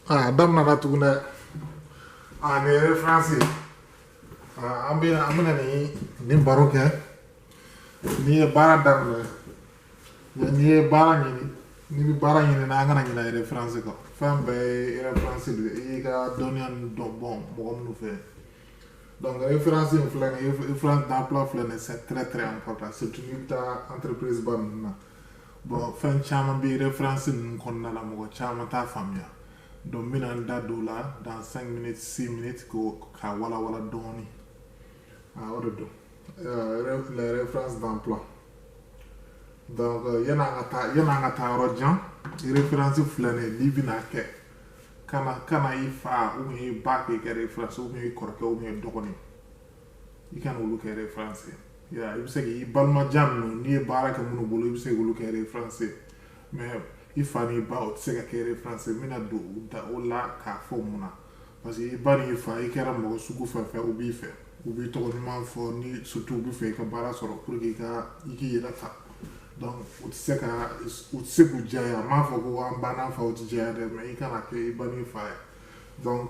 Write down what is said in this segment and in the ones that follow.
waaw dam na na tugu na ah référence ah am na am na ni ni baro kɛ n'i ye baara daminɛ mɛ n'i ye baara ɲini n'i bɛ baara ɲini na an kana ɲinɛ référence kɔ fɛn bɛɛ ye référence de ye i y'i ka dɔnniya ninnu dɔn bɔn mɔgɔ minnu fɛ donc référence in filɛ nin ye référence d'emploi filɛ nin ye c'est très très important surtout n'i bɛ taa entreprise ba ninnu na. bɔn fɛn caman bɛ reference ninnu kɔnɔna la mɔgɔ caman t'a faamuya donc n bɛna n da don o la dans 5 minutes 6 minutes ko k'a walawala dɔɔni ah, o de don euh, les références d'emploi donc euh, yan'an ka taa yan'an ka taa yɔrɔ jan référence filɛ nin ye n'i bɛna kɛ kana kana i fa ou bien i ba kɛ référence ou bien i kɔrɔkɛ ou bien i dɔgɔnin i kana olu kɛ reference ye i bɛ se k'i balima jan ninnu n'i ye baara kɛ minnu bolo i bɛ se k'olu kɛ reference ye mais i fa n'i ba o tɛ se ka kɛ reference ye n bɛna don n da o la k'a fɔ mun na parce que i ba n'i fa i kɛra mɔgɔ sugu fɛn fɛn u b'i fɛ u b'i tɔgɔ ɲuman fɔ ni surtout u b'a fɛ i ka baara sɔrɔ pour que i ka i k'i yɛrɛ ta donc u tɛ se ka u tɛ se k'u diya ye a ma fɔ ko an ba n'an faw tɛ diya ye dɛ mais i kana kɛ i ba n'i fa ye donc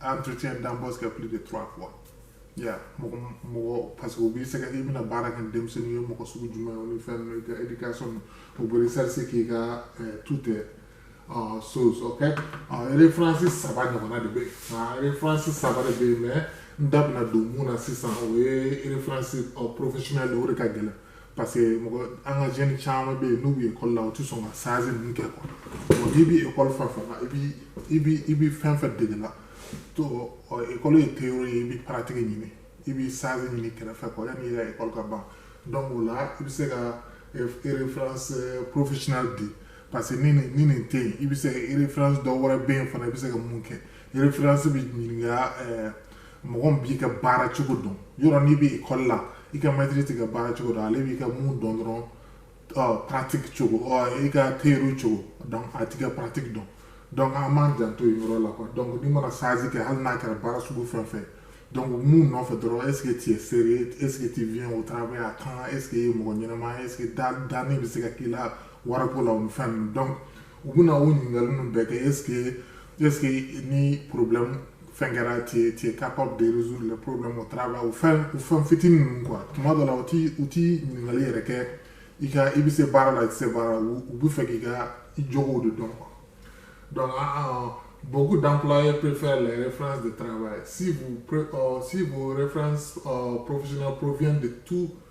entretien d'embauche kɛ plus de trois fois ya mɔgɔ mɔgɔ parce que u b'i sɛgɛ i bɛna baara kɛ denmisɛnnin ye mɔgɔ sugu jumɛn o ni fɛn ninnu i ka éducation u bɛ recherche k'i kan tout est uh, chose ok uh, référence saba ɲɔgɔnna de bɛ yen nka référence saba de bɛ yen mais n da bɛna don mun na sisan o ye référence uh, professionnel o de ka gɛlɛn parce que mɔgɔ an ka jeune caman bɛ yen n'u bɛ ekɔli la u tɛ sɔn ka stage ninnu kɛ quoi bon n'i bɛ ekɔli fɛn fɛn na i bi i bi i bi fɛn fɛn dege la to ekɔli ye théorie ye i bi pratique ɲini i bi stage ɲini kɛrɛfɛ quoi yanni i ka ekɔli ka ban donc o la i bɛ se ka reference professionnel di parce que ni nin ni nin tɛ yen i bɛ se ka reference dɔ wɛrɛ bɛ yen fana i bɛ se ka mun kɛ reference bɛ ɲininka ɛɛ mɔgɔ min b'i ka baara cogo dɔn yɔrɔ n'i bɛ ekɔli la i ka mɛtiri t'i ka baara cogo dɔn ale b'i ka mun dɔn dɔrɔn ɔ pratique cogo ɔ i ka théorie cogo dɔn a t'i ka pratique dɔn donc an b'an janto yen yɔrɔ la quoi donc n'i mana stage kɛ hali n'a kɛra baara sugu fɛn fɛn donc mun nɔfɛ dɔrɔn est-ce que tu es sérieux est-ce que tu viens au travail à temps est-ce que i ye mɔgɔ ɲɛnama est-ce que danni bɛ se ka k'i la wariko la o ni fɛn ninnu donc u bɛna o ɲininkali ninnu bɛɛ kɛ est-ce que est-ce que ni problème fɛn kɛra tu es tu es capable de résoudre le problème au travail o fɛn o fɛn fitinin ninnu quoi tuma dɔ la u tɛ u tɛ ɲininkali yɛrɛ kɛ i ka i bɛ se baara la i tɛ se baara la u u b'a fɛ k'i ka i jogow de dɔn quoi donc an ah, ah, beaucoup d'employeurs préfèrent les références de travail si vous pré- euh, si vos références euh, professionnelles proviennent de tout euh,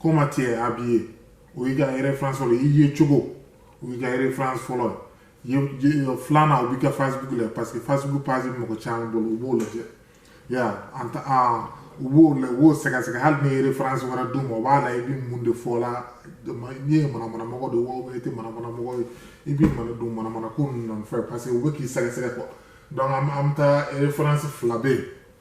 comment tu es habillé o y'i ka référence fɔlɔ i yecogo o y'i ka référence fɔlɔ ye filanan o b'i ka facebook la parce que facebook page bɛ mɔgɔ caman bolo u b'o lajɛ ya an ta an u b'o la u b'o sɛgɛsɛgɛ hali n'i ye référence wɛrɛ d'u ma o b'a la i bɛ mun de fɔ la n'i ye manamanamɔgɔ de ye wa i tɛ manamanamɔgɔ ye i bɛ mana don manamanako ninnu nɔfɛ parce que u bɛ k'i sɛgɛsɛgɛ quoi donc an bɛ taa référence fila bɛ yen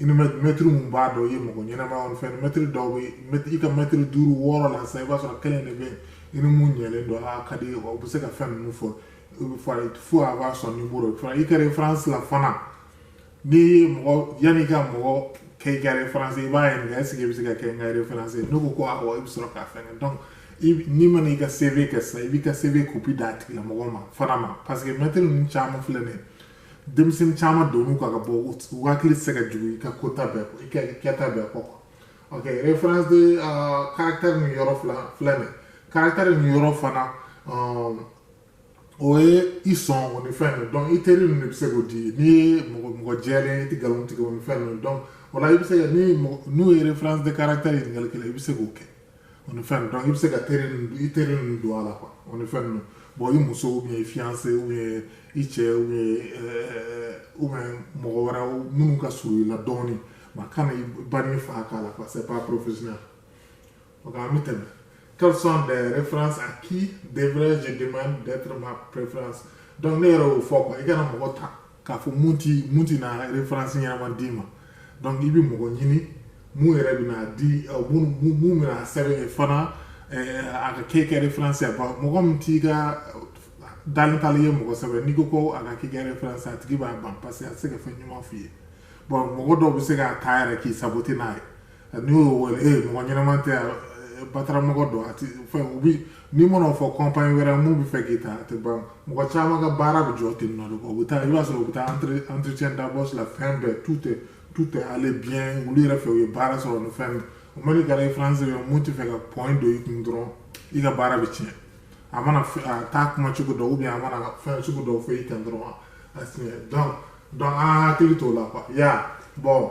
i ni mɛtiri mun b'a dɔn i ye mɔgɔ ɲɛnama ye fɛn mɛtiri dɔw bɛ i ka mɛtiri duuru wɔɔrɔ la sisan i b'a sɔrɔ kelen de bɛ yen i ni mun ɲɛlen don a ka di ye o bɛ se ka fɛn ninnu fɔ fo a b'a sɔn numéro i ka référence la fana n'i ye mɔgɔ yanni i ka mɔgɔ kɛ i ka référence i b'a ɲininka est-ce que i bɛ se ka kɛ n ka référence n'o ko ko awɔ i bɛ sɔrɔ k'a fɛn kɛ n'i mana i ka CV kɛ sisan i b'i ka CV copie d'a tigilamɔgɔ ma fana ma parce que mɛtiri ninnu caman filɛ nin ye denmisɛnnin caman don ka ka bɔ u hakili tɛ se ka jigin i ka kota bɛɛ kɔ i ka kɛta bɛɛ kɔ ok référence de caractère ni yɔrɔ fila filɛ nin caractère ni yɔrɔ fana o ye i sɔn o ni fɛn ninnu donc i teri ninnu de bɛ se k'o di n'i ye mɔgɔ mɔgɔ jɛlen i tɛ nkalon tigɛ o ni fɛn ninnu donc o la i bɛ se ka ni n'u ye référence de caractère ɲininkali kɛ i bɛ se k'o kɛ o ni fɛn donc i bɛ se ka teri i teri ninnu don a la quoi o ni fɛn ninnu bon i muso ou bien i fiancé ou bien i cɛ ou bien ou bien mɔgɔ wɛrɛ minnu ka surun i la dɔɔnin mais kana i ba n'i fa k'a la quoi c'est pas professionnel donc an bɛ tɛmɛ quelles sont les références à qui devrais-je demander d'être ma référence donc ne yɛrɛ y'o fɔ quoi i kana mɔgɔ ta k'a fɔ mun ti mun ti na référence ɲɛnama d'i ma donc i bɛ mɔgɔ ɲini mun yɛrɛ bɛna di mun mun bɛna sɛbɛn ye fana a ka k'e ka référence ye mɔgɔ min t'i ka dalen t'a l'i ye mɔgɔ sɛbɛ n'i ko ko a ka k'i ka référence a tigi b'a ban parce que a tɛ se ka fɛn ɲuman f'i ye bon mɔgɔ dɔw bɛ se k'a ta yɛrɛ k'i saboter n'a ye n'i y'o wele ee eh, mɔgɔ ɲɛnama tɛ yan eh, bataramɔgɔ don a tɛ fɛn ou bien i mana fɔ compagnie wɛrɛ mun bɛ fɛ k'i ta a tɛ ban mɔgɔ caman ka baara bɛ jɔ ten nɔ de u bɛ taa i b'a sɔrɔ u bɛ taa entretien d'embauche la fɛn bɛɛ tout est tout est allé bien olu yɛrɛ fɛ u ye baara sɔrɔ ni fɛn bɛɛ o mais n'i ka référence bɛ mun tɛ fɛ ka point don i kun dɔrɔn i ka baara bɛ tiɲɛ a mana a taa kuma cogo dɔ ou bien a mana fɛn sugu dɔw fɔ i kan dɔrɔn a tiɲɛ donc donc an hakili t'o la quoi ya bon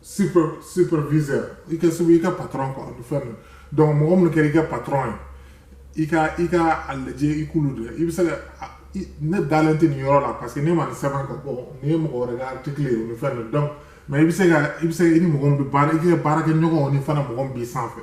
super superviseur i ka sebe i ka patron quoi o ni fɛn ninnu donc mɔgɔ minnu kɛra i ka patron ye i ka i ka a lajɛ i k'olu dɛ i bɛ se ka ne dalen tɛ nin yɔrɔ la parce que ne ma nin sɛbɛn ka bɔ nin ye mɔgɔ wɛrɛ ka article ye o ni fɛn ninnu donc mais i bɛ se ka i bɛ se i ni mɔgɔ min bɛ baara i ka baarakɛɲɔgɔnw ni fana mɔgɔ min b'i sanfɛ